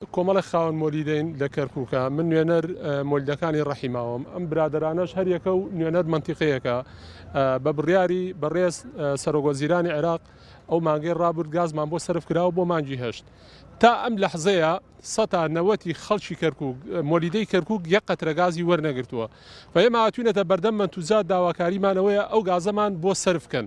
کۆمەڵێک خاوەن مۆلیدەین لە کەرکوکە من نوێنەر مۆلیدەکانی ڕەحی ماوم ئەم برادەرانەش هەریەکە و نوێنەر مەنتیقەیەکە بە بڕیاری بەڕێز سەرۆک وەزیرانی عێراق ئەو مانگەی ڕابرد گازمان بۆ سەرف کراوە بۆ مانگی هەشت تا ئەم لەحزەیە سەتا نەوەتی خەڵکی کەرکک مۆلیدەی کەرکک یە قەترە گازی وەرنەگرتووە و ئێمە هاتوینەتە بەردەم منتوزات داواکاریمانەوەیە ئەو گازەمان بۆ سرفکەن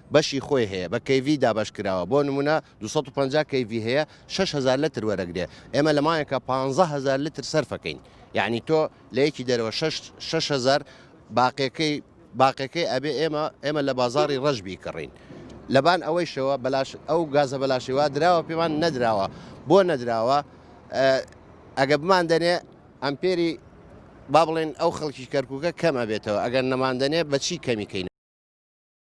بەشی خۆی هەیە بە کەیڤی دابەش کراوە بۆ نمونە دوو سەد و پەنجا کەیڤی هەیە شەش هەزار لەتر وەرەگرێ ئێمە لە مایەکە پانزە هەزار لەتر سەرفەکەین یعنی تۆ لە یەکی دەرەوە شەش شەش هەزار باقیەکەی باقیەکەی ئەبێ ئێمە ئێمە لە بازاری ڕەش بیکڕین لەبان ئەوەیشەوە بەلاش ئەو گازە بەلاشی وا دراوە پێمان نەدراوە بۆ نەدراوە ئەگە بمان دەنێ ئەمپێری با بڵێن ئەو خەڵکی کەرکووکە کەم ئەبێتەوە ئەگەر نەماندەنێ بەچی کەمیکەین